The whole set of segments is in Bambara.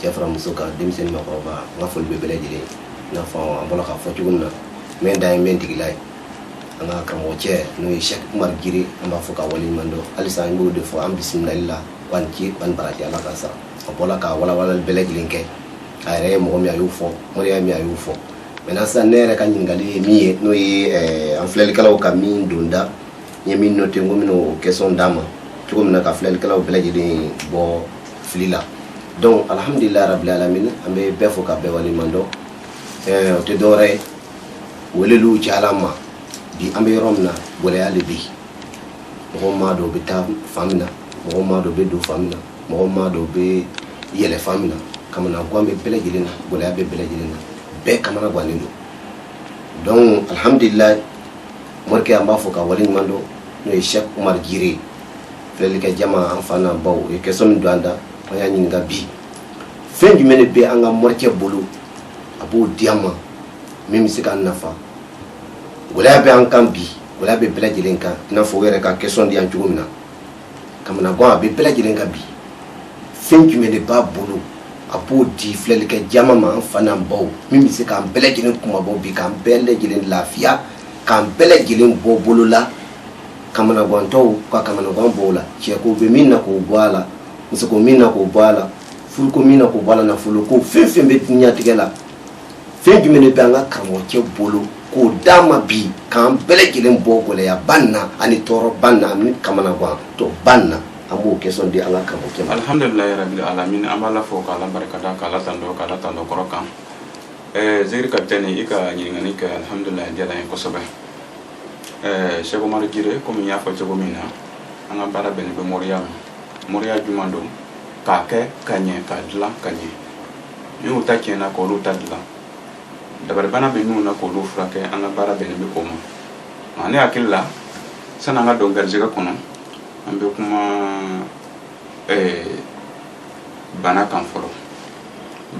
cɛ fara muso kan denmisɛnnin makɔrɔba n ka foli bɛ bɛɛ lajɛlen ye i n'a fɔ an bɔra k'a fɔ cogo min na n bɛ n da ye n bɛ n tigila ye an ka karamɔgɔ cɛ n'o ye sɛki umari jire an b'a fo k'a waleɲuman dɔn halisa an b'o de fɔ an bisimilali la aw ni ce aw ni baraji ala ka sara a bɔra ka walawalali bɛɛ lajɛlen kɛ a yɛrɛ ye mɔgɔ min a y'o fɔ moriya min a y'o fɔ mɛ sisan ne yɛrɛ ka ɲininkali ye min ye n'o ye an filɛlikɛlaw ka min don n da n ye min note n ko n bɛna o question d'a ma cogo min na ka filɛlikɛlaw bɛɛ lajɛlen bɔ fili la donc alhamdulilayi rabili alamina an bɛ bɛɛ fo ka bɛɛ waleɲuman dɔn o tɛ dɔwɛrɛ ye weleliw cayala an ma bi an bɛ yɔrɔ min na gɛlɛya de bɛ yen mɔgɔw m'a dɔn u bɛ taa fan min na mɔgɔw m'a dɔn u bɛ don fan min na mɔgɔw m'a dɔn u bɛ yɛlɛ fan min na kamana gan bɛ bɛɛ lajɛlen na gɛlɛya bɛ bɛɛ lajɛlen na bɛɛ kamana gannen don donc alhamdulilayi morikɛ an b'a fo k'a wale ɲuman dɔn n'o ye sɛki umari jire filɛlikɛ jama an fa n'an baw o ye kɛsɔn min don an da an y'a ɲininka bi fɛn jumɛn de bɛ an ka morikɛ bolo a b'o di an ma min bɛ se k'an nafa gɛlɛya bɛ an kan bi gɛlɛya bɛ bɛɛ lajɛlen kan i n'a fɔ o yɛrɛ ka kɛsɔn di an cogo min na kamana gan bɛ bɛɛ lajɛlen kan bi fɛn jumɛn de b'a bolo a b'o di filɛlikɛ jama ma an fa n'an baw min bɛ se k'an bɛɛ lajɛlen kunmabɔ bi k'an bɛɛ lajɛlen lafiya k'an bɛɛ lajɛlen bɔ bolo la kamanagantɔw ka kamanagan bɔ u la cɛko bɛ min na k'o bɔ a la musoko min na k'o bɔ a la furuko min na k'o bɔ a la nafolo ko fɛn fɛn bɛ dunyatigɛ la fɛn jumɛn de bɛ an ka karamɔgɔcɛ bolo k'o d'a ma bi k'an bɛɛ lajɛlen bɔ gɛlɛyaba nin na ani tɔɔrɔba nin na ani kamanagantɔba nin na an b'o kɛsɔn di an ka karamɔgɔcɛ ma alhamdulilayi rabili alamina an b'ala fo k'ala barikada k'ala tando k'ala tando kɔrɔ kan ɛɛ zeri kapitɛni i ka ɲininkali kɛ alihamudulila a diyara n ye kosɛbɛ ɛɛ sɛki umari jire komi n y'a fɔ cogo min na an ka baara bɛnnen bɛ moriya ma moriya jumɛn don k'a kɛ ka ɲɛ k'a dilan ka ɲɛ minnu ta tiɲɛna k'olu ta dilan dabaribana bɛ minnu na k'olu furakɛ an ka baara bɛnnen bɛ o ma nka ne hakili la san'an ka don garijɛgɛ kɔnɔ an bɛ kuma ɛɛ bana kan fɔlɔ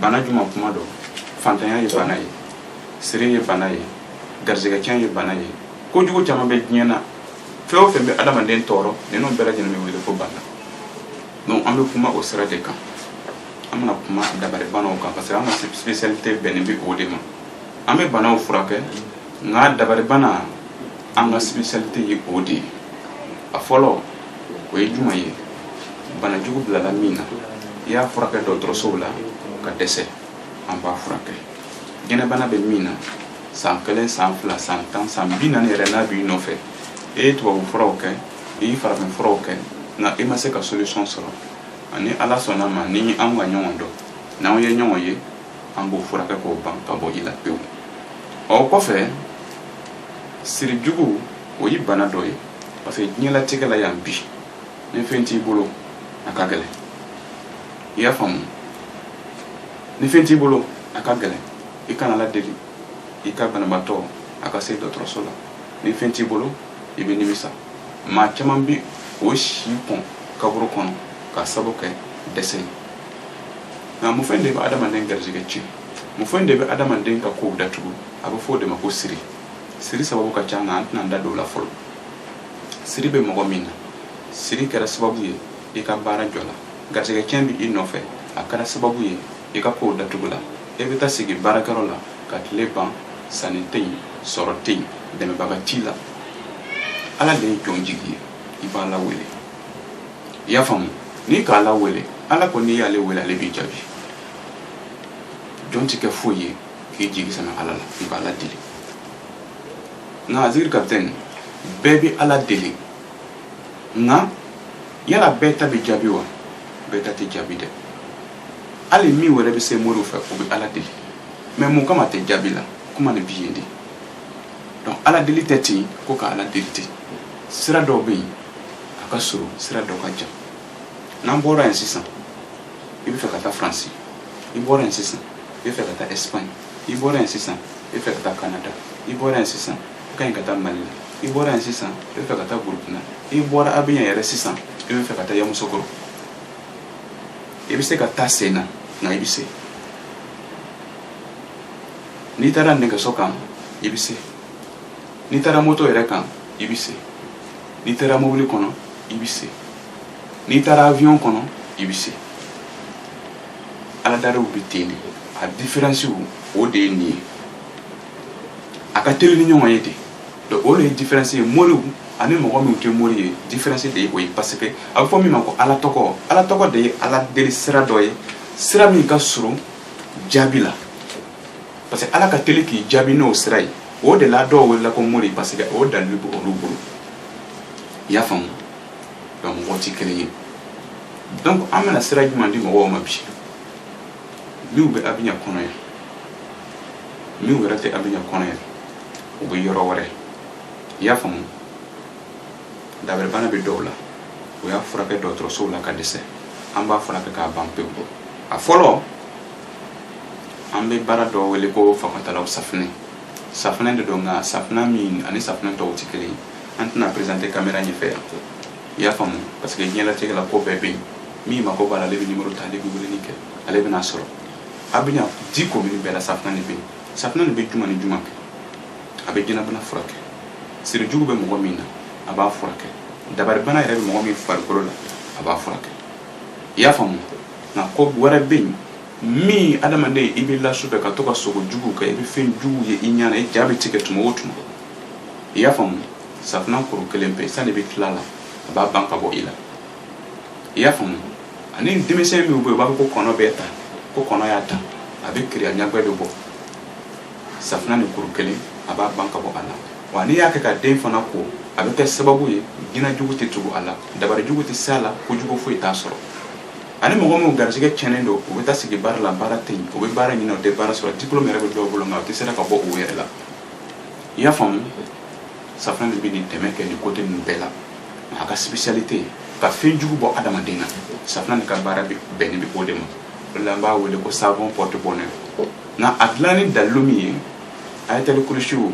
bana jumɛn kuma don fantanya ye bana ye siri ye bana ye garisɛgɛcɛn ye bana ye kojugu caman bɛ diɲɛ na fɛn o fɛn bɛ adamaden tɔɔrɔ ninnu bɛɛ lajɛlen bɛ wele ko bana donc an bɛ kuma o sira de kan an bɛna kuma dabaribanaw kan parce que an ka spécialité bɛnnen bɛ o de ma an bɛ banaw furakɛ nka dabaribana an ka spécialité ye o de ye a fɔlɔ o ye jumɛn ye bana jugu bilala min na i y'a furakɛ dɔgɔtɔrɔsow la ka dɛsɛ an b'a furakɛ jinɛbana bɛ min na san kelen san fila san tan san bi naani yɛrɛ n'a b'i nɔfɛ i ye tubabu furaw kɛ i ye farafin furaw kɛ nka i ma se ka solution sɔrɔ ani ala sɔnna a ma ni an ka ɲɔgɔn dɔn n'anw ye ɲɔgɔn ye an b'o furakɛ k'o ban ka bɔ i la pewu o kɔfɛ siri jugu o ye bana dɔ ye parce que diɲɛlatigɛ la yan bi ni fɛn t'i bolo a ka gɛlɛn i y'a faamu ni fɛn t'i bolo a ka gɛlɛn i kana ala deli i ka banabaatɔ a ka se dɔgɔtɔrɔso la ni fɛn t'i bolo i bɛ nimisa maa caman bi o si kɔn kaburu kɔnɔ ka sabu kɛ dɛsɛ ye nka mun fɛn de bɛ adamaden garijɛgɛ tiɲɛ mun fɛn de bɛ adamaden ka kow datugu a bɛ fɔ o de ma ko siri siri sababu ka ca nka an tɛna an da don o la fɔlɔ siri bɛ mɔgɔ min na siri kɛra sababu ye i ka baara jɔ la garijɛgɛ tiɲɛ bɛ i nɔfɛ a kɛra sababu ye i ka kow datugu la i bɛ taa sigi baarakɛyɔrɔ la ka tile ban sanni tɛ yen sɔrɔ tɛ yen dɛmɛbaga t'i la ala de ye jɔn jigi ye i b'ala wele i y'a faamu n'i ka ala wele ala ko n'i y'ale wele ale b'i jaabi jɔn ti kɛ foyi ye k'i jigi sɛmɛ ala la i b'ala deli nka aziri kapitɛni bɛɛ bɛ ala deli nka yala bɛɛ ta bɛ jaabi wa bɛɛ ta tɛ jaabi dɛ hali min wɛrɛ bɛ se moriw fɛ o bɛ ala deli mais mun kama a tɛ jaabi la kuma nin bɛ yen de donc ala deli tɛ ten ko ka ala deli ten sira dɔw bɛ yen a ka surun sira dɔ ka jan n'an bɔra yan sisan i bɛ fɛ ka taa faransi i bɔra yan sisan i bɛ fɛ ka taa espagne i bɔra yan sisan i bɛ fɛ ka taa canada i bɔra yan sisan i ka ɲi ka taa mali la i bɔra yan sisan i bɛ fɛ ka taa burukina i bɔra abijan yɛrɛ sisan i bɛ fɛ ka taa yamusokoro i bɛ se ka taa sen na nka i bɛ se n'i taara nɛgɛso kan i bɛ se n'i taara moto yɛrɛ kan i bɛ se n'i taara mobili kɔnɔ i bɛ se n'i taara avion kɔnɔ i bɛ se ala deliw bɛ ten de a diferansiw o de ye nin ye a ka teli ni ɲɔgɔn ye de donc o de ye diferansi ye moriw ani mɔgɔ minnu tɛ mori ye diferansi de ye o ye parce que a bɛ fɔ min ma ko ala tɔgɔ ala tɔgɔ de ye ala deli sira dɔ ye sira min ka surun jaabi la parce que ala ka teli k'i jaabi n'o sira ye o de la dɔw welela ko mori parce que o dalili bɛ olu bolo i y'a faamu nka mɔgɔw tɛ kelen ye donc an bɛna sira jumɛn di mɔgɔw ma bi minnu bɛ Abidjan kɔnɔ yan minnu yɛrɛ tɛ Abidjan kɔnɔ yan u bɛ yɔrɔ wɛrɛ i y'a faamu dabaribana bɛ dɔw la u y'a furakɛ dɔgɔtɔrɔsow la ka dɛsɛ an b'a furakɛ k'a ban pewu a fɔlɔ an bɛ baara dɔ wele ko fakatalaw safunɛ safunɛ de don nka safunɛ min ani safunɛ tɔw tɛ kelen an tɛna présenter caméra ɲɛfɛ yan i y'a faamu parce que diɲɛlatigɛ la ko bɛɛ bɛ yen min mako b'a la ale bɛ nimoro ta ale bɛ weleli kɛ ale bɛna sɔrɔ Abidjan dix communes bɛɛ la safunɛ de bɛ yen safunɛ de bɛ juma ni juma kɛ a bɛ jinɛbana furakɛ sirijugu bɛ mɔgɔ min na a b'a furakɛ dabaribana yɛrɛ bɛ mɔgɔ min farikolo la a b'a furakɛ i y'a faamu nka ko wɛrɛ bɛ yen min adamaden i bɛ la su fɛ ka to ka sogo jugu kɛ i bɛ fɛn jugu ye i ɲɛ na i ja bɛ tigɛ tuma o tuma i y'a faamu safinɛ kuru kelen pe sani bɛ tila la a b'a ban ka bɔ i la i y'a faamu ani denmisɛn min bɛ yen u b'a fɔ ko kɔnɔ bɛ ta ko kɔnɔ y'a ta a bɛ kirin a ɲagbɛ bɛ bɔ safinɛ nin kuru kelen a b'a ban ka bɔ a la wa n'i y'a kɛ ka den fana ko a bɛ kɛ sababu ye jinɛ jugu tɛ tugu a la dabari jugu tɛ se a la ko jugu foyi t'a sɔrɔ ani mɔgɔ minnu garisɛgɛ cɛnnen don u bɛ taa sigi baara la baara tɛ yen u bɛ baara ɲini u tɛ baara sɔrɔ diplôme yɛrɛ bɛ dɔw bolo nka u tɛ sera ka bɔ u yɛrɛ la i y'a faamu safinɛ de bɛ nin dɛmɛ kɛ nin côté ninnu bɛɛ la a ka spécialité ye ka fɛn jugu bɔ adamaden na safinɛ de ka baara bɛnnen bɛ o de ma o la an b'a wele ko savon porte bonheur nka a dilanni dalilu min ye ayatali kurisiyu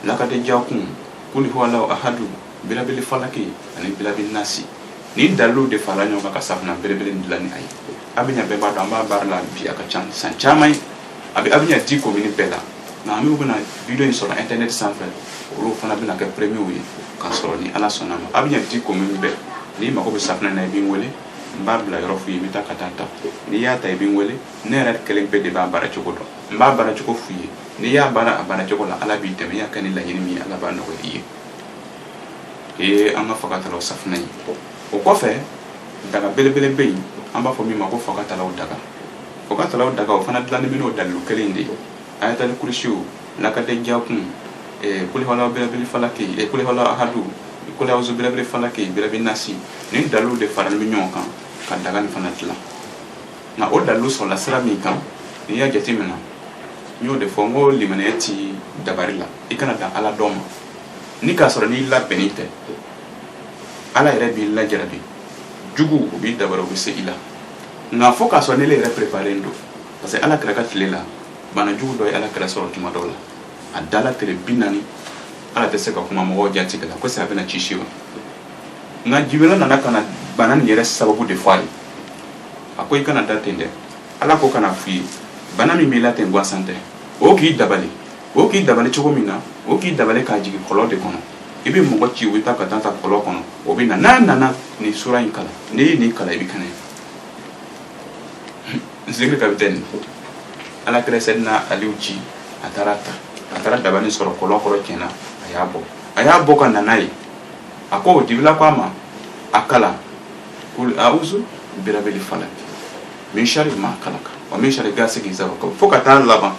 lakad jakum kuli huwalahu ahadu birabili falaki ani birabili nasi nin dalilu de farala ɲɔgɔn kan ka safinɛ belebele nin dilan ni a ye Abidjan bɛɛ b'a dɔn an b'a baara la bi a ka ca san caman ye a bɛ Abidjan dix communes bɛɛ la nka an bɛ bɛna video in sɔrɔ internet sanfɛ olu fana bɛna kɛ premierw ye k'a sɔrɔ ni ala sɔnna ma Abidjan dix communes bɛɛ n'i mago bɛ safinɛ na i bɛ n wele n b'a bila yɔrɔ f'i ye i bɛ taa ka taa ta n'i y'a ta i bɛ n wele ne yɛrɛ kelen pe de b'a baara cogo dɔn n b'a baara cogo f'i ye n'i y'a baara a baara cogo la ala b'i dɛmɛ i y'a kɛ ni laɲini min ye ala b'a nɔgɔya i ye o ye an ka fagatalaw safunɛ ye o kɔfɛ daga belebele bɛ yen an b'a fɔ min ma ko fagatalaw daga fagatalaw daga o fana dilannen bɛ n'o dalilu kelen de ye ayatali kurisiyu lakad jakum kuli huwalahu birabili falaki kuli huwalahu ahadu kuli awuzu birabili falaki birabili nasi nin dalilu de faralen bɛ ɲɔgɔn kan ka daga nin fana dilan nka o dalilu sɔrɔla sira min kan n'i y'a jateminɛ n y'o de fɔ n ko limaniya ti dabari la i kana dan ala dɔn ma ni k'a sɔrɔ n'i labɛnnen tɛ ala yɛrɛ b'i lajarabi juguw b'i dabari u bɛ se i la nka fo k'a sɔrɔ n'e yɛrɛ pereparen don parce que ala kira ka tile la bana jugu dɔ ye ala kira sɔrɔ tuma dɔw la a dala tile bi naani ale tɛ se ka kuma mɔgɔw jatigɛla ko est-ce a bɛna ci si wa nka jibirila nana ka na bana nin yɛrɛ sababu de fɔ a ye a ko i kana da ten dɛ ala ko ka na f'i ye bana min b'i la ten gansan tɛ o k'i dabali o k'i dabali cogo min na o k'i dabali k'a jigin kɔlɔn de kɔnɔ i bɛ mɔgɔ ci u bɛ taa ka taa ta kɔlɔn kɔnɔ o bɛ na n'a nana nin sura in kalan n'i ye nin kalan i bɛ kɛnɛya zikiri kapitɛni ala kira sɛdina aliw ci a taara ta a taara dabali sɔrɔ kɔlɔn kɔrɔ tiɲɛ na a y'a bɔ a y'a bɔ ka na n'a ye a ko jibirila ko a ma a kalan kul auzu birabili falaki min sari ma kalaka wa min sari gasikin iza wakab fo ka taa laban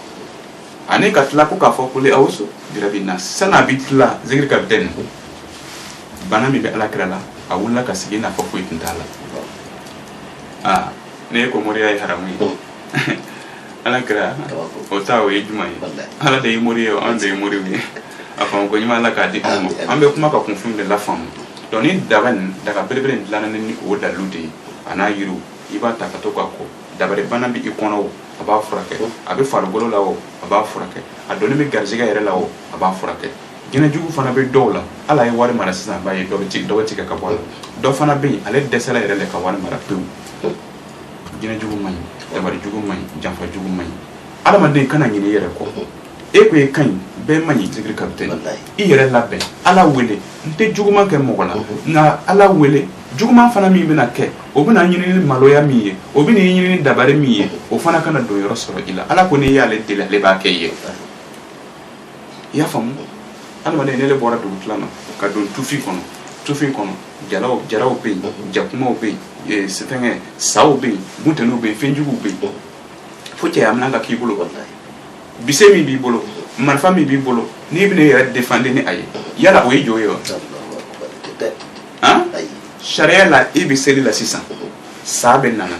ani ka tila ko k'a fɔ kul auzu birabi nasi san'a bi tila zikiri kapitɛni bana min bɛ alakira la a wulila ka sigi n'a fɔ foyi tun t'a la aa ne ye ko moriya ye haramu ye alakira o ta o ye juman ye ala de ye mori ye anw de ye moriw ye a faamu ko ɲuman ala k'a di anw ma an bɛ kuma ka kunfin de lafaamu donc nin daga nin daga belebele in dilanna ni o dalilu de ye a n'a yiriw i b'a ta ka to k'a ko dabalibana bɛ i kɔnɔ o a b'a furakɛ a bɛ farikolo la o a b'a furakɛ a donnen bɛ garisɛgɛ yɛrɛ la o a b'a furakɛ jinɛjugu fana bɛ dɔw la ale ye wari mara sisan a b'a ye dɔ bɛ tigɛ dɔ bɛ tigɛ ka bɔ a la dɔ fana bɛ yen ale dɛsɛla yɛrɛ de ka wari mara pewu jinɛjugu man ɲi dabalijugu man ɲi janfajugu man ɲi adamaden kana ɲinɛ i yɛrɛ kɔ e ko e ka ɲi bɛɛ man ɲi zikiri kapitɛni i yɛrɛ labɛn ala wele n tɛ juguman kɛ mɔgɔ la nka ala wele juguman fana min bɛna kɛ o bɛna ɲini ni maloya min ye o bɛna ɲini ni dabari min ye o fana kana donyɔrɔ sɔrɔ i la ala ko n'i y'ale deli ale b'a kɛ i ye i y'a faamu adamaden n'e le bɔra dugu tila na ka don tufin kɔnɔ tufin kɔnɔ jalaw jaraw bɛ yen jakumaw bɛ yen fɛnkɛ saw bɛ yen buntɛniw bɛ yen fɛnjuguw bɛ yen fo cɛya minɛn ka k'i bolo bese min b'i bolo marifa min b'i bolo n'i bɛna i yɛrɛ défendre ni a ye yala o ye jo ye wa sariya la e bɛ seli la sisan sa bɛ nana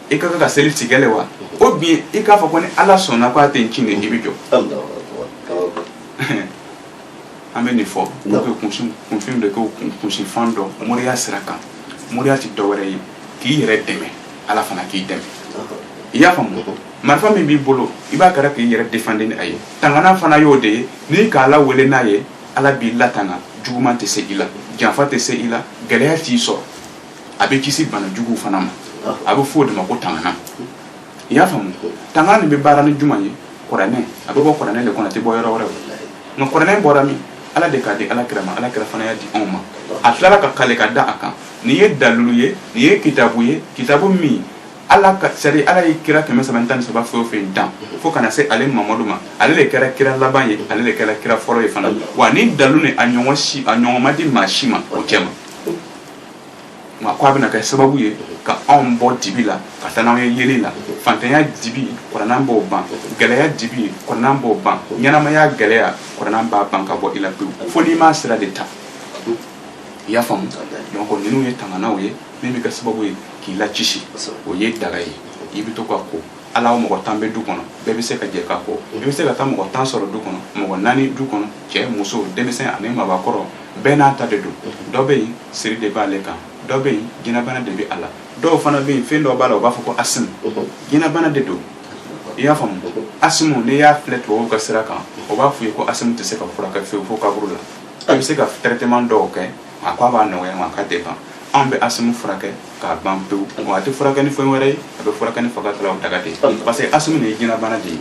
e ka kan ka seli tigɛ le wa ou bien i k'a fɔ ko ni ala sɔnna ko a tɛ n cin dɛ i bɛ jɔ an bɛ nin fɔ kunfin de ko kunfin dɔ moriya sira kan moriya tɛ dɔwɛrɛ ye k'i yɛrɛ dɛmɛ ala fana k'i dɛmɛ i y'a faamu marifa min b'i bolo i b'a kɛra k'i yɛrɛ défendre ni a ye tanganan fana y'o de ye n'i k'ala wele n'a ye ala b'i latanga juguman tɛ se i la janfa tɛ se i la gɛlɛya t'i sɔrɔ a bɛ kisi bana juguw fana ma a bɛ fɔ o de ma ko tangana i y'a faamu tangana nin bɛ baara ni jumɛn ye kuranɛ a bɛ bɔ kuranɛ de kɔnɔ a tɛ bɔ yɔrɔ wɛrɛ nka kuranɛ bɔra min ala de k'a di ala kira ma ala kira fana y'a di anw ma a tilala ka kale ka da a kan nin ye dalilu ye nin ye kitabu ye kitabu min ala ka sari ala ye kira kɛmɛ saba tan ni saba fɛn o fɛn dan fo ka na se ale mamadu ma ale de kɛra kira laban ye ale de kɛra kira fɔlɔ ye fana wa ni dalilu ni a ɲɔgɔn si a ɲɔgɔn ma di maa si ma o cɛ ma nka ko a bɛna kɛ sababu ye ka anw bɔ dibi la ka taa n'anw ye yeelen na fantanya dibi kuranɛ b'o ban gɛlɛya dibi kuranɛ b'o ban ɲɛnamaya gɛlɛya kuranɛ b'a ban ka bɔ i la pewu fo n'i m'a sira de ta i y'a faamu donc ninnu ye tanganaw ye min bɛ kɛ sababu ye k'i lakisi o ye daga ye i bɛ to ka ko a la mɔgɔ tan bɛ du kɔnɔ bɛɛ bɛ se ka jɛ ka ko i bɛ se ka taa mɔgɔ tan sɔrɔ du kɔnɔ mɔgɔ naani du kɔnɔ cɛ muso denmisɛn ani mabakɔrɔ bɛɛ n'a ta de don dɔ bɛ yen siri de b'ale kan dɔ bɛ yen jinɛbana de bɛ a la dɔw fana bɛ yen fɛn dɔ b'a la u b'a fɔ ko asimu jinɛbana de don i y'a faamu asimu n'i y'a filɛ tubabuw ka sira kan o b'a fɔ i ye ko asimu tɛ se ka furakɛ fewu fo kaburu la a bɛ se ka traitement dɔw kɛ a ko a b'a nɔgɔya nka a ka tɛ ban an bɛ asimu furakɛ k'a ban pewu wa a tɛ furakɛ ni fɛn wɛrɛ ye a bɛ furakɛ ni fagatalaw daga de ye parce que asimu nin ye jinɛbana de ye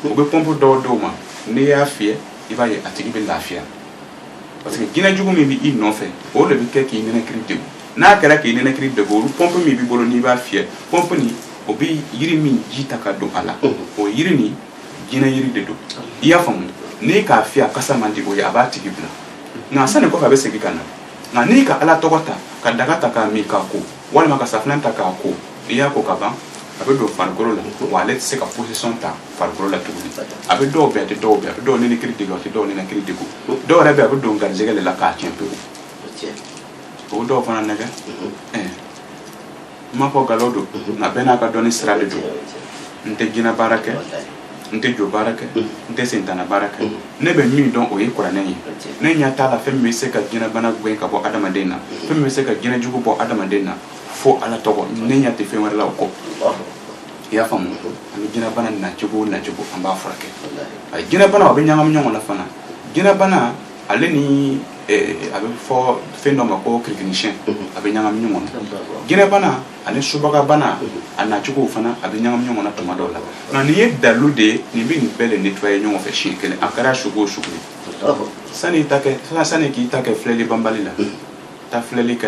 u bɛ pɔnpu dɔw d'o ma n'i y'a fiyɛ i b'a ye a tigi bɛ lafiya parce que jinɛ jugu min bɛ i nɔfɛ o de bɛ kɛ k'i nɛnɛkiri degun n'a kɛra k'i nɛnɛkiri degun olu pɔnpu min b'i bolo n'i b'a fiyɛ pɔnpu nin o bɛ yiri min ji ta ka don a la o yiri nin jinɛ yiri de don i y'a faamu n'i k'a fiyɛ a kasa man di o ye a b'a tigi bila nka a sani kɔfɛ a bɛ segin ka na nka n'i ka ala tɔgɔ ta ka daga ta k'a min k'a ko walima ka safunɛ ta k'a ko i y'a ko ka ban a bɛ don farikolo la wa ale tɛ se ka position ta farikolo la tuguni a bɛ dɔw bɛn a tɛ dɔw bɛn a bɛ dɔw nɛnɛkiri degun a tɛ dɔw nɛnɛkiri degun dɔw yɛrɛ bɛ a bɛ don garijɛgɛ de la k'a tiɲɛ pewu o dɔw fana nɛgɛn n m'a fɔ nkalon don nka bɛɛ n'a ka dɔnni sira de don n tɛ jinɛ baara kɛ n tɛ jo baara kɛ n tɛ sitanɛ baara kɛ ne bɛ min dɔn o ye kuranɛ ye ne ɲɛ t'a la fɛn min bɛ se ka jinɛbana gɛn ka bɔ adamaden na fɛn min bɛ se ka jinɛ jugu bɔ adamaden na fo ala tɔgɔ ne ɲɛ tɛ fɛn wɛrɛ la o kɔ i y'a faamu an bɛ jinɛbana nacogo o nacogo an b'a furakɛ jinɛbana o bɛ ɲagami ɲɔgɔn na fana jinɛbana ale ni a bɛ fɔ fɛn dɔ ma ko kirikirimasiyɛn a bɛ ɲagami ɲɔgɔn na jinɛbana ani subagabana a nacogo fana a bɛ ɲagami ɲɔgɔn na tuma dɔw la nka nin ye dalilu de ye nin bɛ nin bɛɛ de nettoyer ɲɔgɔn fɛ siɲɛ kelen a kɛra sugu o sugu sani ta sani k'i ta kɛ filɛli banbali la taa filɛli kɛ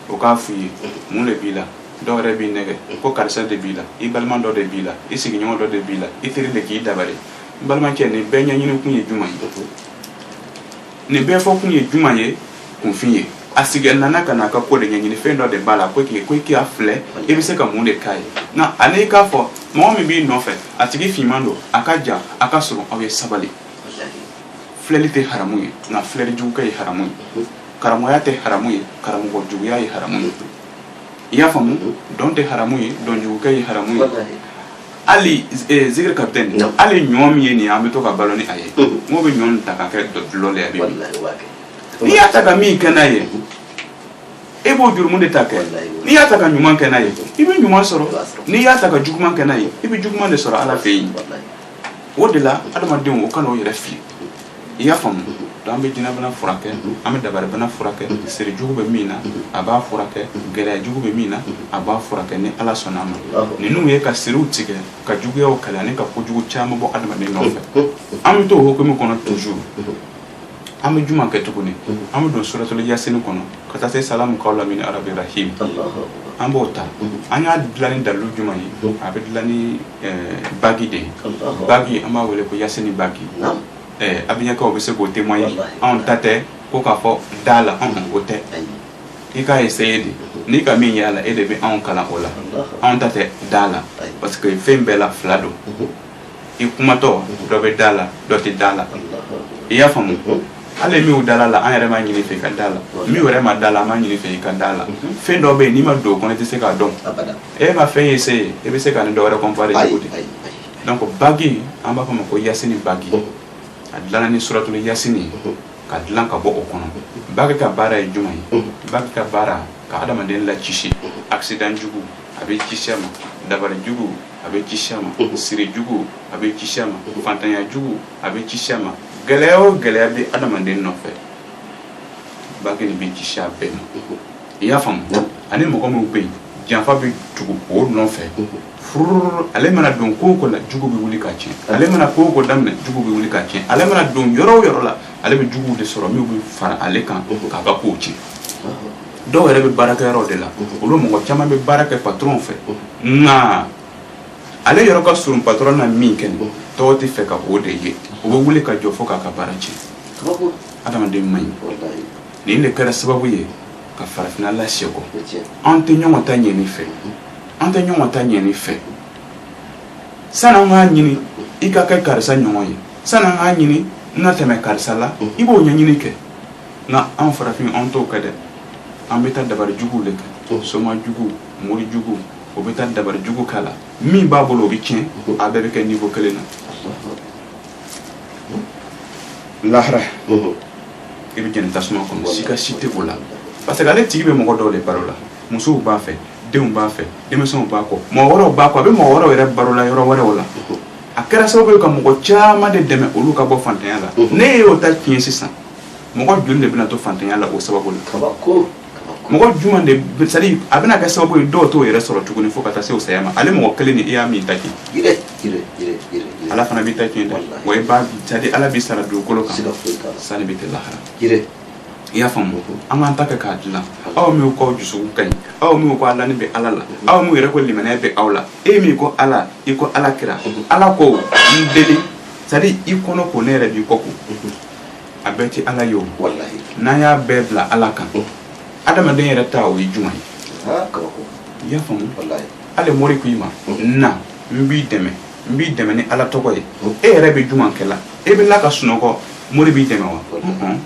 o k'a f'i ye mun de b'i la dɔw yɛrɛ b'i nɛgɛn ko karisa de b'i la i balima dɔ de b'i la i sigiɲɔgɔn dɔ de b'i la i teri de k'i dabali n balimakɛ nin bɛɛ ɲɛɲini kun ye juma ye nin bɛɛ fɔ kun ye juma ye kunfin ye a sigi nana ka n'a ka ko de ɲɛɲini fɛn dɔ de b'a la ko k'i ko i k'a filɛ i bɛ se ka mun de k'a ye nka ale k'a fɔ mɔgɔ min b'i nɔfɛ a tigi finman don a ka jan a ka surun aw ye sabali filɛli tɛ haramu ye nka filɛli jugukɛ ye haramu ye karamɔgɔya tɛ haramu ye karamɔgɔ juguya ye haramu ye i y'a faamu dɔn tɛ haramu ye dɔn jugukɛ ye haramu ye hali eh, zikiri capitaine Non. hali ɲɔ min ye nin ye an bɛ to ka balo ni a ye Mhm. n'o bɛ ɲɔ nin ta ka kɛ dɔ- dɔlɔ le ye a bɛ min. wallahi waa kɛ n'i y'a ta ka min kɛ n'a ye e b'o jurumu de ta kɛ Wallahi. n'i y'a ta ka ɲuman kɛ n'a ye i bɛ ɲuman sɔrɔ I b'a sɔrɔ. n'i y'a ta ka juguman kɛ n'a ye i bɛ juguman de sɔrɔ ala fɛ yen wallahi o de la adamadenw o kan'o yɛrɛ fili i y'a faamu donc an bɛ jinɛbana furakɛ an bɛ dabaribana furakɛ siri jugu bɛ min na a b'a furakɛ gɛlɛya jugu bɛ min na a b'a furakɛ ni ala sɔnna ma ninnu ye ka siriw tigɛ ka juguyaw kɛlɛ ani ka kojugu caman bɔ adamaden nɔfɛ an bɛ to o hukumu kɔnɔ toujours an bɛ juma kɛ tuguni an bɛ don suratul yasini kɔnɔ ka taa se salamu kawlan min rabi rahim an b'o ta an y'a dilan ni dalilu jumɛn ye a bɛ dilan ni bagi de bagi an b'a wele ko yasini bagi abijankaw bɛ se k'o témoigner anw ta tɛ ko k'a fɔ da la anw o tɛ i k'a essayer de n'i ka min y'a la e de bɛ anw kalan o la anw ta tɛ da la parce que fɛn bɛɛ la fila don i kumatɔ dɔ bɛ da la dɔ tɛ da la i y'a faamu hali min dala la an yɛrɛ m'a ɲini fɛ i ka da la min yɛrɛ ma da la an m'a ɲini fɛ i ka da la mhm. fɛn dɔ bɛ yen n'i ma don o kɔnɔ i tɛ se k'a dɔn e ma fɛn essayer e bɛ se k'a ni dɔ wɛrɛ comparer cogo di donc bagi an b'a fɔ ma ko yasini bagi mhm. a dilanna ni suratul yasini mhm. ka dilan ka bɔ o kɔnɔ bagi ka baara ye jumɛn ye bagi ka baara ka adamaden lacisi accident jugu a bɛ kisi a ma dabari jugu a bɛ kisi a ma siri jugu a bɛ kisi a ma fantanya jugu a bɛ kisi a ma gɛlɛya o gɛlɛya bɛ adamaden nɔfɛ bagi nin bɛ kisi a bɛɛ ma i y'a faamu ani mɔgɔ minnu bɛ yen janfa bɛ tugu o nɔfɛ furu ale mana don ko o ko la jugu bɛ wuli k'a tiɲɛ ale mana ko o ko daminɛ jugu bɛ wuli k'a tiɲɛ ale mana don yɔrɔ o yɔrɔ la ale bɛ juguw de sɔrɔ min bɛ fara ale kan k'a ka kow tiɲɛ dɔw yɛrɛ bɛ baarakɛyɔrɔ de la olu mɔgɔ caman bɛ baara kɛ patron fɛ nka ale yɔrɔ ka surun patron na min kɛ nin tɔw tɛ fɛ ka o de ye o bɛ wuli ka jɔ fo k'a ka baara tiɲɛ adamaden man ɲi nin de kɛra sababu ye ka farafinna lasegin kɔ an tɛ ɲɔgɔn ta ɲɛni fɛ an tɛ ɲɔgɔn ta ɲɛni fɛ sani an k'a ɲini i ka kɛ karisa ɲɔgɔn ye sani an k'a ɲini n na tɛmɛ karisa la i b'o ɲɛɲini kɛ nka an farafin an t'o kɛ dɛ an bɛ taa dabari juguw de kɛ soma jugu mori jugu o bɛ taa dabari jugu k'a la min b'a bolo o bɛ tiɲɛ a bɛɛ bɛ kɛ niveau kelen na lahara i bɛ jɛni tasuma kɔnɔ sigasiga tɛ o la parce que ale tigi bɛ mɔgɔ dɔw de balo la musow b'a fɛ denw b'a fɛ denmisɛnw b'a kɔ mɔgɔ wɛrɛw b'a kɔ a bɛ mɔgɔ wɛrɛw yɛrɛ balo la yɔrɔ wɛrɛw la a kɛra sababu ye ka mɔgɔ caman de dɛmɛ olu ka bɔ fantanya la ne y'o ta tiɲɛ sisan mɔgɔ joli de bɛna to fantanya la o sababu la mɔgɔ jumɛn de c'est à dire a bɛna kɛ sababu ye dɔw t'o yɛrɛ sɔrɔ tuguni fo ka taa se o saya ma ale mɔgɔ kelen ni i y'a min ta kɛ ala fana b'i ta tiɲɛ dɛ wa i b'a c'est à dire ala b'i sara dugukolo kan sani bɛ kɛ lahara i y'a faamu an k'an ta kɛ k'a dilan aw min k'aw dusukun ka ɲi aw min ko a lani bɛ ala la aw min yɛrɛ ko limaniya bɛ aw la e min ko ala i ko ala kira ala ko n deli c'est à dire i kɔnɔ ko ne yɛrɛ b'i kɔ ko a bɛɛ tɛ ala ye o walahi n'an y'a bɛɛ bila ala kan adamaden yɛrɛ ta o ye jumɛn ye aa kabako i y'a faamu walahi ale mori ko i ma na n b'i dɛmɛ n b'i dɛmɛ ni ala tɔgɔ ye e yɛrɛ bɛ jumɛn kɛ la e bɛ la ka sunɔgɔ mori b'i dɛmɛ wa Mhm.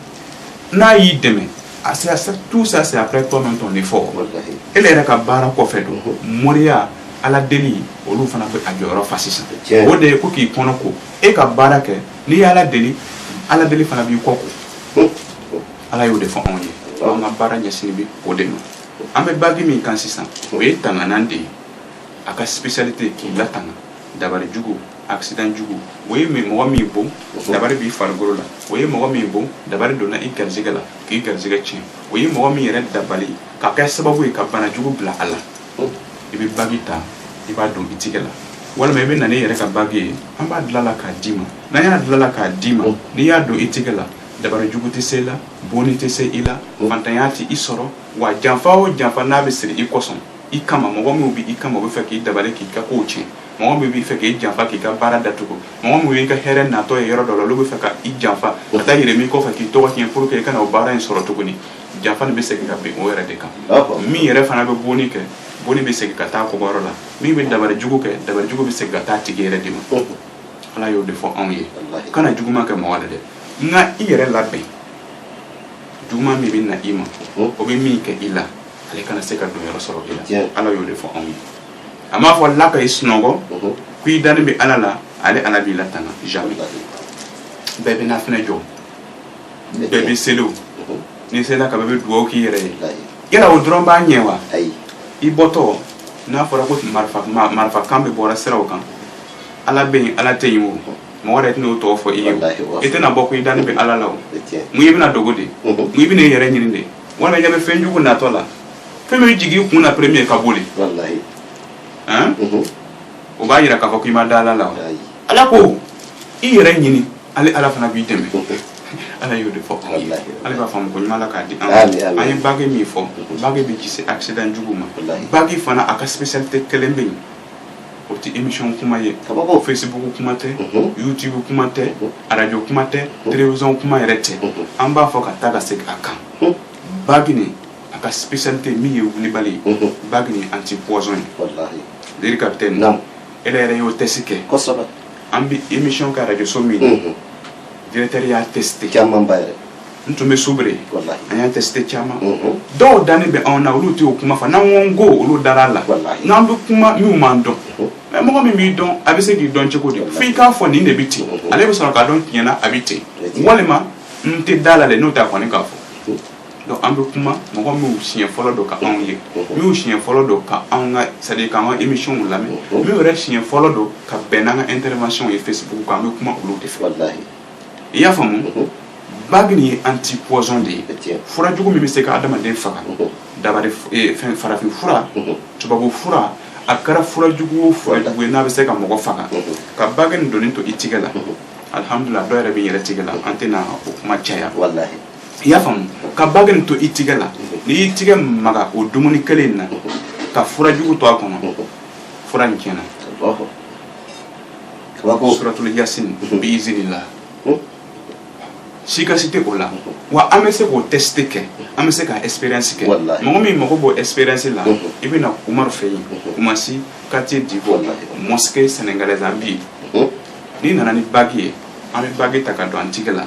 n'a y'i dɛmɛ a c'est à ça- tout ça c'est après toi même ton effort walahi e yɛrɛ ka baara kɔfɛ don moriya ala deli olu fana bɛ a jɔyɔrɔ fa sisan Tiɲɛ. o de ye ko k'i kɔnɔ ko e ka baara kɛ n'i ye ala deli ala deli fana b'i kɔ ko ala y'o de fɔ anw ye an ka baara ɲɛsini bɛ o de ma an bɛ bagi min kan sisan o ye tanganan de ye a ka spécialité k'i latanga dabari jugu accident jugu o ye mɔgɔ min bon dabari b'i farikolo la o ye mɔgɔ min bon dabari donna i garisɛgɛ la k'i garisɛgɛ tiɲɛ o ye mɔgɔ min yɛrɛ dabali ka kɛ sababu ye ka bana jugu bila a la i bɛ bagi ta i b'a don i tigɛ la walima i bɛ na n'i yɛrɛ ka bagi ye an b'a dilala k'a d'i ma n'an y'a dilala k'a d'i ma n'i y'a don i tigɛ la dabari jugu tɛ se i la bonni tɛ se i la fantanya tɛ i sɔrɔ wa janfa o janfa n'a bɛ siri i kosɔn i kama mɔgɔ minnu bɛ i kama o bɛ fɛ k'i dabali k'i ka kow tiɲɛ mɔgɔ min b'i fɛ k'i janfa k'i ka baara datugu mɔgɔ min b'i ka hɛrɛ natɔ ye yɔrɔ dɔ la olu bɛ fɛ ka i janfa ka taa yɛlɛm'i kɔfɛ k'i tɔgɔ tiɲɛ pour que i kana o baara in sɔrɔ tuguni janfa bɛ segin ka bin o yɛrɛ de kan min yɛrɛ fana bɛ bonni kɛ bonni bɛ segin ka taa bɔyɔrɔ la min bɛ dabali jugu kɛ dabali jugu bɛ segin ka taa tigi yɛrɛ de ma ala y'o de fɔ anw ye kana juguman kɛ mɔgɔ la dɛ nka i yɛrɛ labɛn juguman min bɛ na i ma o bɛ min kɛ i la ale kana se ka donyɔrɔ sɔrɔ i la ala y'o de fɔ anw ye a m'a fɔ la ka i sunɔgɔ ko i dani bɛ ala la ale ala b'i latanga jamais bɛɛ bɛ na fɛnɛ jɔ bɛɛ bɛ seli o n'i selila ka ban i bɛ dugawu k'i yɛrɛ ye yala o dɔrɔn b'a ɲɛ wa i bɔtɔ n'a fɔra ko marifa kan bɛ bɔra siraw kan ala bɛ yen ala tɛ yen o mɔgɔ yɛrɛ tɛn'o tɔgɔ fɔ i ye o i tɛna bɔ ko i dani bɛ ala la o mun i bɛna dogo de mun i bɛna i yɛrɛ ɲini de walima i ɲɛ bɛ fɛn jugu natɔ la fɛn min jigin i kun na premier ka boli o b'a jira k'a fɔ k'i ma da ala la wa ala ko i yɛrɛ ɲini ale ala fana b'i dɛmɛ ala y'o de fɔ ale b'a faamu ko ɲuman k'a di an an ye bagi min fɔ bagi b'i kisi accident jugu ma bagi fana a ka spécialité kelen bɛ yen o tɛ émission kuma ye facebook kuma tɛ mhm. youtube kuma tɛ mhm. radio kuma tɛ mhm. télévision kuma yɛrɛ tɛ an b'a fɔ ka taa ka segin a kan bagi nin a ka spécialité min ye wulibali ye bagi nin anti poison ye deri capitaine ele yɛrɛ y'o test kɛ an bɛ émission kɛ arajoso min na directeur y'a testé caman ba yɛrɛ n tun bɛ soubré an y'a testé caman dɔw dannen bɛ anw na olu tɛ o kuma fɔ n'an ko n ko olu dara a la nka an bɛ kuma minnu m'an dɔn mais mɔgɔ min b'i dɔn a bɛ se k'i dɔn cogo di fo i k'a fɔ nin de bɛ ten ale bɛ sɔrɔ k'a dɔn tiɲɛ na a bɛ ten walima n tɛ da a la dɛ n'o t'a kɔni k'a fɔ donc an bɛ kuma mɔgɔ minnu siɲɛ fɔlɔ don ka anw ye minnu siɲɛ fɔlɔ don ka anw ka c'est à dire k'an ka émission lamɛn minnu yɛrɛ siɲɛ fɔlɔ don ka bɛn n'an ka intervention ye Facebook kan an bɛ kuma olu de fɛ i y'a faamu bagi nin ye anti poison de ye fura jugu min bɛ se ka adamaden faga dabari eh, fɛn farafin fura tubabu fura a kɛra fura jugu o fura jugu ye n'a bɛ se ka mɔgɔ faga ka bagi nin donnen to i tigɛ la alhamdulillah dɔ yɛrɛ bɛ n yɛrɛ tigɛ la an tɛna o kuma caya i y'a faamu ka bagi nin to i tigɛ la n'i y'i tigɛ maga o dumuni kelen in na ka fura jugu to a kɔnɔ fura nin tiɲɛna suratul yasin bi izinillah sika si tɛ o la wa an bɛ se k'o test kɛ an bɛ se ka expérience kɛ mɔgɔ min mago b'o expérience la i bɛ na umaru fɛ yen koumassi quartier divo mosquée sénégalaise an bɛ yen n'i nana ni bagi ye an bɛ bagi ta ka don an tigɛ la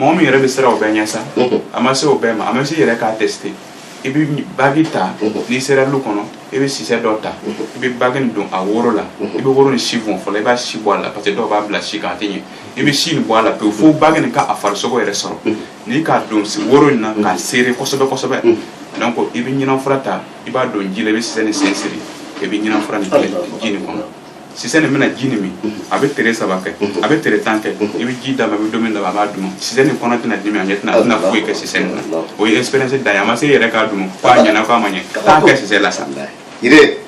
mɔgɔ min yɛrɛ bɛ siran o bɛɛ ɲɛ sa a ma se o bɛɛ ma a ma se yɛrɛ k'a tester i bɛ bagi ta n'i sera lu kɔnɔ i bɛ sisɛ dɔ ta i bɛ bagi nin don a woro la i bɛ woro nin si bɔn fɔlɔ i b'a si bɔ a la parce que dɔw b'a bila si kan a tɛ ɲɛ i bɛ si nin bɔ a la pewu fo bagi nin ka a farisogo yɛrɛ sɔrɔ n'i k'a don woro in na k'a serrer kosɛbɛ kosɛbɛ donc i bɛ ɲinan fura ta i b'a don ji la i bɛ sisɛ nin sen siri i bɛ ɲinan fura nin kɛ ji nin kɔnɔ sisɛ nin bɛna ji nin min a bɛ tere saba kɛ a bɛ tere tan kɛ i bɛ ji d'a ma i bɛ dumuni d'a ma a b'a dun sisɛ nin kɔnɔ tɛna dimi a ɲɛ tɛna a tɛna foyi kɛ sisɛ nin na o ye expérience dan ye a ma se yɛrɛ k'a dun ko a ɲɛna ko a ma ɲɛ k'a kɛ sisɛ la sa yire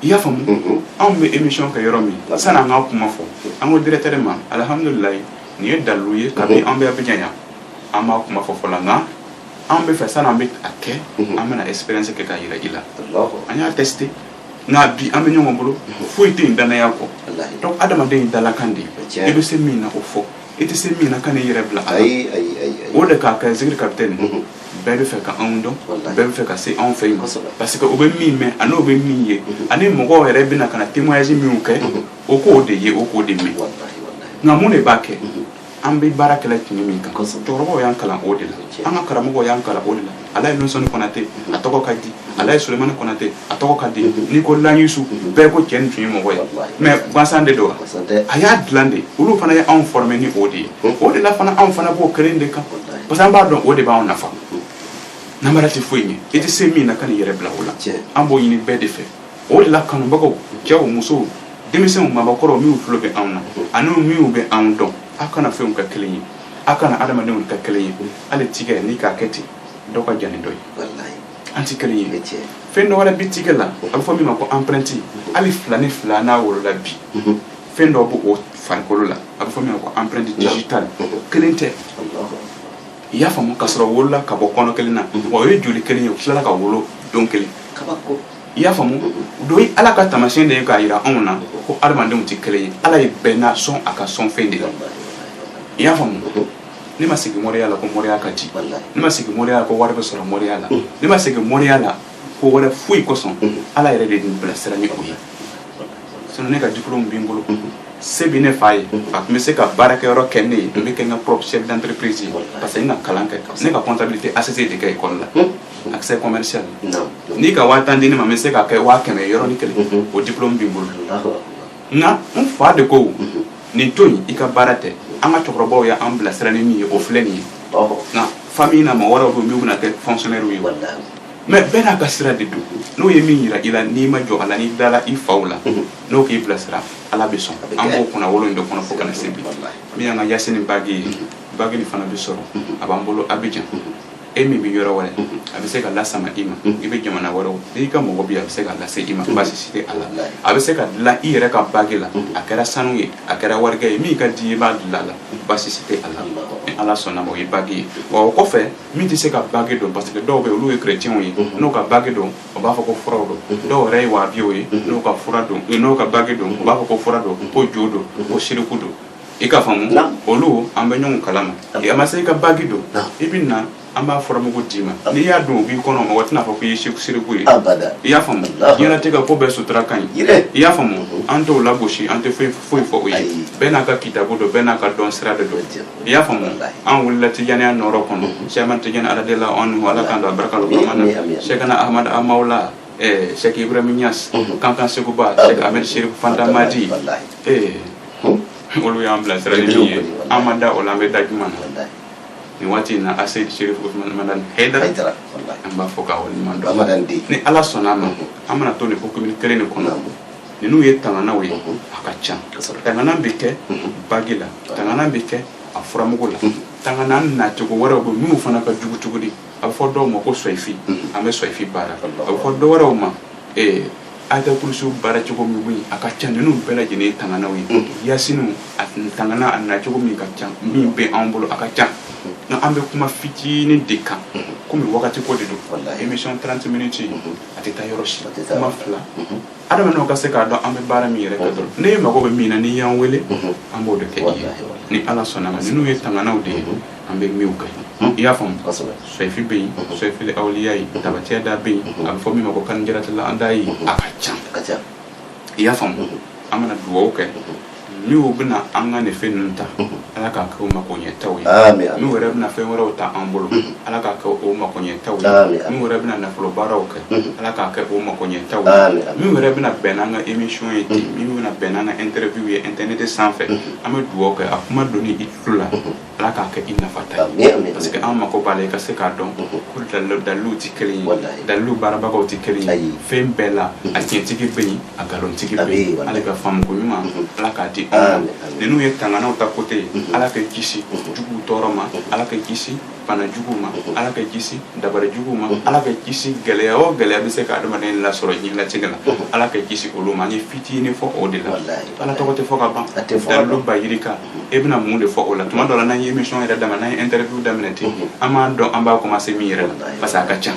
i y'a faamu anw bɛ émission kɛ yɔrɔ min sani an k'a kuma fɔ an ko directeur ma alhamdulilayi nin ye dalilu ye kabini an bɛ Abidjan yan an b'a kuma fɔ fɔlɔ nka an bɛ fɛ sani an bɛ a kɛ an bɛna expérience kɛ k'a jira i la an y'a tester nka bi an bɛ ɲɔgɔn bolo foyi tɛ yen danaya kɔ donc adamaden ye dalakan de ye i bɛ se min na o fɔ i tɛ se min na kan'i yɛrɛ bila a la o de k'a kɛ zikiri capitaine bɛɛ bɛ fɛ ka anw dɔn bɛɛ bɛ fɛ ka se anw fɛ yen parce que o bɛ min mɛn ani o bɛ min ye ani mɔgɔw yɛrɛ bɛna ka na témoignage minw kɛ o k'o de ye o k'o de mɛn nka mun de b'a kɛ an bɛ baara kɛla tiɲɛ min kan cɛkɔrɔbaw y'an kalan o de la an ka karamɔgɔw y'an kalan o de la alaji nusɔni Konate a tɔgɔ ka di alaji Sulemani Konate a tɔgɔ ka di n'i ko layisu bɛɛ ko cɛ nin tun ye mɔgɔ ye mais gansan de don a y'a dilan de olu fana ye anw former ni o de ye o de la fana anw fana b'o kelen de kan parce que an b'a dɔn o de b'anw nafa namara tɛ foyi ɲɛ i tɛ se min na kan'i yɛrɛ bila o la an b'o ɲini bɛɛ de fɛ o de la kanubagaw cɛw musow denmisɛnw mɔgɔkɔrɔw minnu tulo bɛ anw na ani minnu bɛ anw dɔn aw kana fɛnw kɛ kelen ye aw kana adamadenw kɛ kelen ye hali tigɛ n'i k'a kɛ ten dɔ ka jan ni dɔ ye an tɛ kelen ye fɛn dɔ wɛrɛ bɛ tigɛ la a bɛ fɔ min ma ko empreinte hali fila ni fila n'a wolola bi mhm. fɛn dɔ b'o farikolo la a bɛ fɔ min ma ko empreinte digitale kelen tɛ i y'a faamu k'a sɔrɔ wolola ka bɔ kɔnɔ kelen na mhm. o ye joli kelen ye o tilala ka wolo don kelen i y'a faamu o ye ala ka tamasiyɛn de ye k'a jira anw na ko adamadenw tɛ kelen ye ala ye bɛɛ n'a sɔn a ka sɔn fɛn de la i y'a faamu ne ma segin mɔriya la ko mɔriya ka di ne ma segin mɔriya la ko wari bɛ sɔrɔ mɔriya la ne ma segin mɔriya la ko wɛrɛ foyi kosɔn ala yɛrɛ de ye ne bilasira ni o ye sinon ne ka diplôme bɛ n bolo se bɛ ne fa ye a tun bɛ se ka baarakɛyɔrɔ kɛ ne ye n bɛ kɛ n ka propre chef d'entreprise ye parce que n ka kalan kɛ ne ka comptabilité ACC de kɛ école la action commerciale n'i ka waa tan di ne ma n bɛ se k'a kɛ waa kɛmɛ yɔrɔnin kelen o diplôme bɛ n bolo nka n fa de ko nin to i ka baara tɛ an ka cɛkɔrɔbaw ye an bilasira ni min ye o filɛ nin ye nka famille na mɔgɔ wɛrɛw bɛ yen min bɛna kɛ fonctionnaire ye mais bɛɛ n'a ka sira de don n'o ye min jira i la n'i ma jɔ a la n'i dala i faw la n'o k'i bilasira ala bɛ sɔn an b'o kunnawolo in de kɔnɔ fo ka na se bi min y'an ka Yasini bague ye bague nin fana bɛ sɔrɔ a b'an bolo Abidjan e min bɛ yɔrɔ wɛrɛ a bɛ se ka lasama i ma i bɛ jamana wɛrɛ n'i ka mɔgɔ bɛ yen a bɛ se ka lase i ma baasi tɛ a la a bɛ se ka dilan i yɛrɛ ka bagi la a kɛra sanu ye a kɛra warijɛ ye min ka di i b'a dilan a la baasi tɛ a la ni ala sɔnna o ye bagi ye wa o kɔfɛ min tɛ se ka bagi don parce que dɔw bɛ yen olu ye kɛrɛcɛnw ye n'o ka bagi don o b'a fɔ ko furaw don dɔw yɛrɛ ye wahabiyaw ye n'o ka fura don n'o ka bagi don u b'a fɔ ko fura don ko jo don ko siriku don i k'a faamu olu an bɛ ɲɔgɔn kalama a ma se i ka bagi don i bɛ na an b'a furamugu d'i ma n'i y'a don o b'i kɔnɔ mɔgɔ tɛna fɔ k'i ye siriku ye i y'a faamu diɲɛnatigɛ ka ko bɛɛ sutura ka ɲi i y'a faamu an t'o lagosi an tɛ foyi fɔ o ye bɛɛ n'a ka kitabu don bɛɛ n'a ka dɔn sira de don i y'a faamu an wulila tijaniya nɔrɔ kɔnɔ sɛk amad tijani radiyallahu anhu ala k'an don a barika la sɛkina ahamadu hamawula sɛk ibrahim niyasi kankan sekuba amadu serifu fanta madi ee olu y'an bilasira ni min ye an ma da o la an bɛ da jumɛn na nin waati in na asɛyidi serifu usumani madani hayidara an b'a fo k'a waleɲuman dɔn ni ala sɔnna a ma an mana to nin hukumu kelen de kɔnɔ ninnu ye tanganaw ye a ka ca tangana bɛ kɛ bagi la tangana bɛ kɛ a furamugu la tangana nacogo wɛrɛw bɛ minnu fana ka jugu cogo di a bɛ fɔ dɔw ma ko soyifi mhm. an bɛ soyifi baara a bɛ fɔ dɔw wɛrɛw ma eh, ayatul kurusi baara cogo min bɛ yen a ka ca ninnu bɛɛ lajɛlen ye tanganaw ye mhm. yasiniw a tangana a nacogo min ka ca min bɛ anw bolo a ka ca mhm. nka an bɛ kuma fitinin de kan komi wagati ko de don émission 30 minutes a tɛ taa yɔrɔ si kuma fila adamadenw ka se k'a dɔn an bɛ baara min yɛrɛ kɛ dɔrɔn ni e mago bɛ min na n'i y'an wele an b'o de kɛ i ye ni ala sɔnna ma ninnu ye tanganaw de ye an bɛ minw kɛ i y'a faamu soyifi bɛ yen soyifili awliya ye tabati yada bɛ yen a bɛ fɔ min ma ko kanjaratila an da ye a ka ca i y'a faamu an bɛna dugawu kɛ minnu bɛna an ka nin fɛn ninnu ta ala k'a kɛ o mako ɲɛtaw ye minnu yɛrɛ bɛna fɛn wɛrɛw ta an bolo ala k'a kɛ o mako ɲɛtaw ye minnu yɛrɛ bɛna nafolo baaraw kɛ ala k'a kɛ o mako ɲɛtaw ye minnu yɛrɛ bɛna bɛn n'an ka émission ye ten minnu bɛna bɛn n'an ka interview ye internet sanfɛ an bɛ dugawu kɛ a kuma donnen i tulo la ala k'a kɛ i nafata ye parce que an mako b'a la i ka se k'a dɔn mhm. ko dalilu tɛ kelen ye dalilu baarabagaw tɛ kelen ye fɛn bɛɛ la mhm. a tiɲɛtigi bɛ yen a nkalontigi bɛ yen ale ka faamuko ɲuman mhm. ala k'a di an ma ninnu ye tanganaw ta côté ye ala ka kisi juguw tɔɔrɔ ma ala ka kisi bana juguw ma ala ka kisi dabari juguw ma ala ka kisi gɛlɛya o gɛlɛya bɛ se ka adamaden lasɔrɔ diɲɛlatigɛ la ala ka kisi olu ma an ye fitinin fɔ o de la ala tɔgɔ tɛ fɔ ka ban dalilu bayirika e bɛna mun de fɔ o la tuma dɔ la n'an ye émission yɛrɛ daminɛ n'an ye interview daminɛ ten an m'a dɔn an b'a commencer min yɛrɛ la parce que a ka ca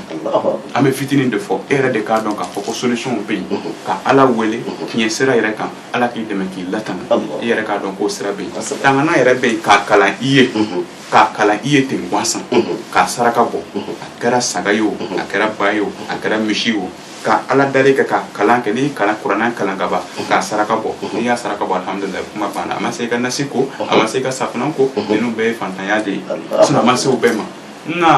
an bɛ fitinin de fɔ e yɛrɛ de k'a dɔn k'a fɔ ko solution bɛ yen ka ala wele tiɲɛ sira yɛrɛ kan ala k'i dɛmɛ k'i latanga i yɛrɛ k'a dɔn k'o sira bɛ yen tangana yɛrɛ bɛ yen k'a kalan i ye k'a kalan i ye ten gansan k'a saraka bɔ a kɛra saga ye o a kɛra ba ye o a kɛra misi ye o ka ala dali kɛ ka kalan kɛ ni kalan kuranɛ kalan ka ban k'a saraka bɔ n'i y'a saraka bɔ alihamudulila kuma banna a ma se i ka nasi ko a ma se i ka safinɛ ko ninnu bɛɛ ye fantanya de ye sinon a ma se o bɛɛ ma nka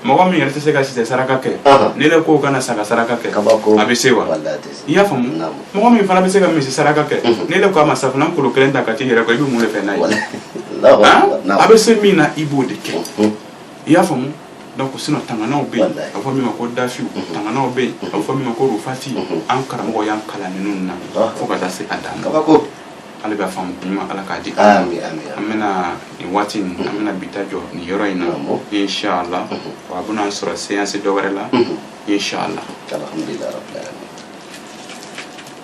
mɔgɔ min yɛrɛ tɛ se ka sisɛ saraka kɛ ni ne ko ka na saga saraka kɛ a bɛ se wa i y'a faamu mɔgɔ min fana bɛ se ka misi saraka kɛ ni ne ko a ma safinɛ kolo kelen ta ka t'i yɛrɛ ko i bɛ mun de fɛ n'a ye a bɛ se min na i b'o de kɛ i y'a faamu donc sinon tanganaw bɛ yen a bɛ fɔ min ma ko dafiw mhm. tanganaw bɛ yen mhm. a bɛ fɔ min ma ko rufati mhm. an karamɔgɔ y'an kalan ninnu na ah. fo ka taa se a dan kabako ale bɛ faamu ɲuman ala k'a di an bɛna nin waati in an bɛna bi ta jɔ nin yɔrɔ in na inshallah wa a bɛna an sɔrɔ séance dɔ wɛrɛ la inshallah alhamdulilayi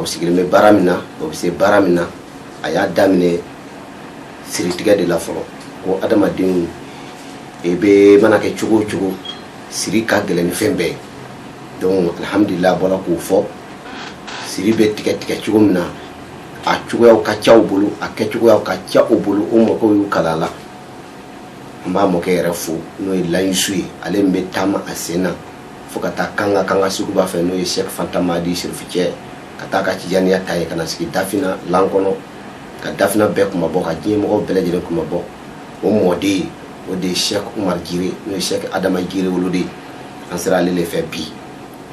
o sigilen bɛ baara min na o bɛ se baara min na a y'a daminɛ siritigɛ de la fɔlɔ ko adamadenw bɛɛ mana kɛ cogo o cogo siri ka gɛlɛn ni fɛn bɛɛ ye donc alhamdulila a bɔra k'o fɔ siri bɛ tigɛ tigɛ cogo min na a cogoyaw ka ca u bolo a kɛcogoyaw ka ca u bolo o mɔgɔw y'u kala la an b'a mɔkɛ yɛrɛ fo n'o ye layisu ye ale min bɛ taama a sen na fo ka taa kankan kankan suguba fɛ n'o ye sɛk fantamadi sirifu cɛ ka taa ka tijaniya ta yen ka na sigi dafina lan kɔnɔ ka dafina bɛɛ kunmabɔ ka diɲɛ mɔgɔw bɛɛ lajɛlen kunmabɔ o mɔden o de ye sɛk umar jire n'o ye sɛk adama jire woloden ye an sera ale le fɛ bi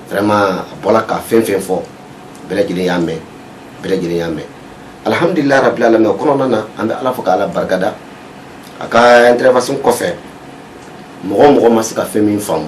vraiment a bɔla ka fɛn fɛn fɔ bɛɛ lajɛlen y'a mɛn bɛɛ lajɛlen y'a mɛn alhamdulilayi rabil alamin o kɔnɔna na an bɛ ala fo ka ala barikada a ka intervention kɔfɛ mɔgɔ mɔgɔ ma se ka fɛn min faamu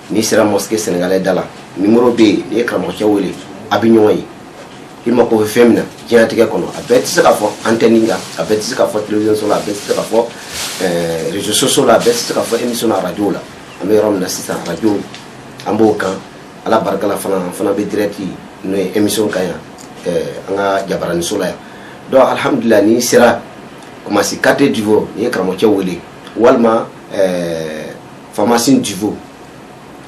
n'i sera mosquée sénégalais da la numéro bɛ yen n'i ye karamɔgɔcɛ wele a bɛ ɲɔgɔn ye i mako bɛ fɛn min na diɲɛlatigɛ kɔnɔ a bɛɛ tɛ se ka fɔ antenne kan a bɛɛ tɛ se ka fɔ télévision so la a bɛɛ tɛ se ka fɔ eh, réseaux sociaux la a bɛɛ tɛ se ka fɔ émission na radio la an bɛ yɔrɔ min na sisan radio an b'o kan ala barika la fana an fana bɛ direct n'o ye émission kan yan eh, an ka jabaraniso la yan donc alhamdulilah n'i sera kumasi quartier divo n'i ye karamɔgɔcɛ wele walima eh, pharmacie Divo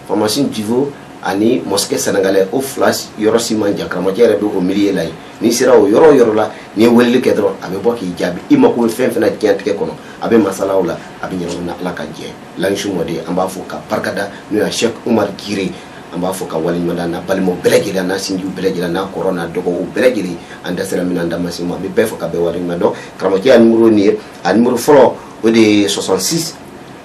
pharmacie Divo ani mosquée sénégalais o fila yɔrɔ si man jan karamɔgɔcɛ yɛrɛ bɛ o milieu la yen n'i sera o yɔrɔ o yɔrɔ la n'i ye weleli kɛ dɔrɔn a bɛ bɔ k'i jaabi i mako bɛ fɛn fɛn na diɲɛlatigɛ kɔnɔ a bɛ masalaw la a bɛ ɲɛnabɔ na ala ka jɛ layisu mɔden an b'a fo k'a barika da n'o ye cheikh umar gire an b'a fo k'a waleɲuman dɔn a n'a balimaw bɛɛ lajɛlen n'a sinjiw bɛɛ lajɛlen n'a kɔrɔ n'a dɔgɔw bɛɛ lajɛlen an da sera min ma an da ma se min ma an bɛ bɛɛ fo ka bɛɛ waleɲuman dɔn karamɔgɔcɛ y'a nimoro nin ye a nimoro fɔlɔ o de ye 66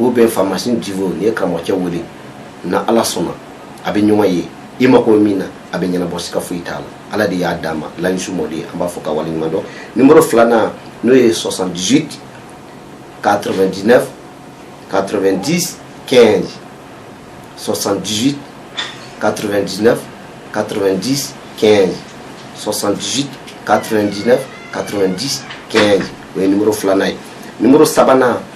o bɛ faamasi dibo nin ye karamɔgɔcɛ wele n ala sɔnna a bɛ ɲɔgɔn ye i ma ko min na a bɛ ɲɛnabɔ si ka foyi t'a la ala de y'a d'a ma layisu mɔ ye an b'a fɔ ka wale ɲuman dɔn nimo filanan n'o ye sɔsan di ka diinɛ ka di kɛ sɔsan di ka diinɛ ka di kɛ sɔsan di ka diinɛ ka di kɛ o ye nimo filanan ye nimo sabanan